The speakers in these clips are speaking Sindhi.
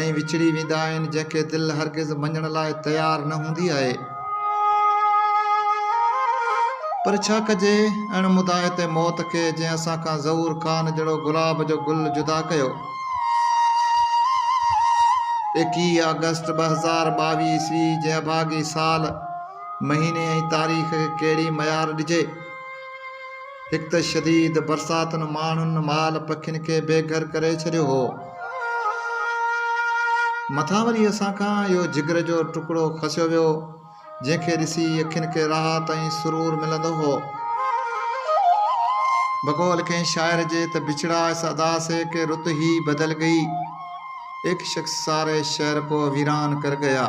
۽ وڇڙي ويندا آهن جنهن کي دل هرگز مڃڻ لاء تيار نه هوندي آهي. پر ڇا ڪجي اڻ مداحت موت کي جنهن اسان کان زئور کان جهڙو گلاب جو گل جدا ڪيو. ايڪيهه آگسٽ ٻه هزار ٻاويهه عيسوي جي اڀاڳي سال، مهيني ۽ تاريخ کي ڪهڙي معيار ڏجي. هڪ ته شديد برساتن ماڻهن مال پکين کي بي گهر ڪري ڇڏيو هو مٿان وري اسان کان اهو جگر جو ٽڪڙو کسيو ويو جنهن کي ڏسي اکين کي راحت ۽ سرور ملندو هو بقول ڪنهن شاعر جي ته بڇڙا اس ادا سي ڪي رت هي بدل گئي ايڪ شخص ساري شهر ڪو ويران ڪر گيا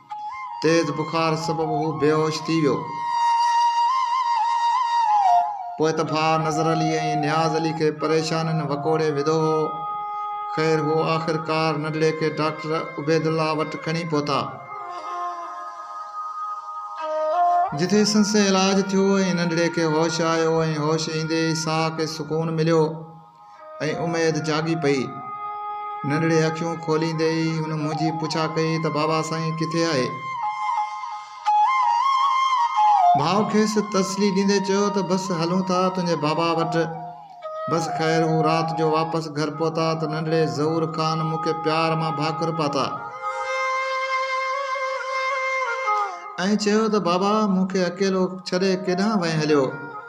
تيز بخار سبب هو بيهوش ٿي ويو. پوء ته ڀاء نظر علي ۽ نياز علي کي پريشانين وڪوڙي وڌو هو. خير هو آخرڪار نڍڙي کي ڊاڪٽر عبيدالله وٽ کڻي پهتا. جتي سندس علاج ٿيو ۽ نڍڙي کي هوش آيو ۽ هوش ايندي ئي ساهه کي سڪون مليو. ۽ اميد جاڳي پئي. ننڍڙي اکيون کوليندي ئي هن منهنجي پڇا ڪئي ته بابا سائين ڪٿي آهي؟ ڀاء کيس تسلي ڏيندي چيو ته بس هلون ٿا تنهنجي بابا وٽ. بس خير هو رات جو واپس گهر پهتا ته ننڍڙي ظهور خان مون کي پيار مان ڀاڪر پاتا ۽ چيو ته بابا مون کي اڪيلو ڇڏي ڪيڏانهن وئين هليو؟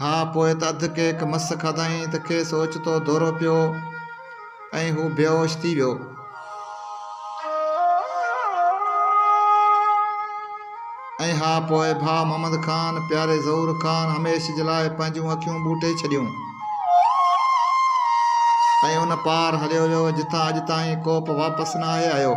ها پوء ته اڌ ڪيڪ مس کاڌائين ته کيس اوچتو دورو پيو ۽ هو بيهوش ٿي ويو. ۽ ها پوء ڀاء محمد خان پياري ظهور خان هميشھ جي لاء پنهنجون اکيون ٻوٽي ڇڏيون ۽ ان پار هليو ويو جتان اڄ تائين ڪوبه واپس نه آهي آيو.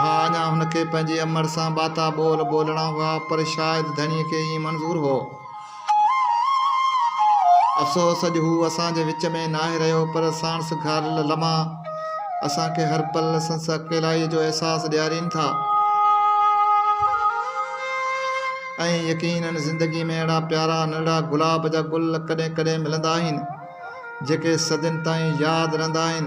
ها اڃا هن کي پنهنجي امڙ سان ٻاتا ٻول ٻولڻا هئا پر شايد ڌڻيء کي ائين منظور هو. افسوس اڄ هو اسان جي وچ ۾ ناهي رهيو پر ساڻس گهاريل لمحا اسان کي هر پل سنس اڪيلائيء جو احساس ڏيارين ٿا ۽ يقينن زندگي ۾ اهڙا پيارا نرڙا گلاب جا گل ڪڏهن ڪڏهن ملندا آهن جيڪي صدين تائين ياد رهندا آهن.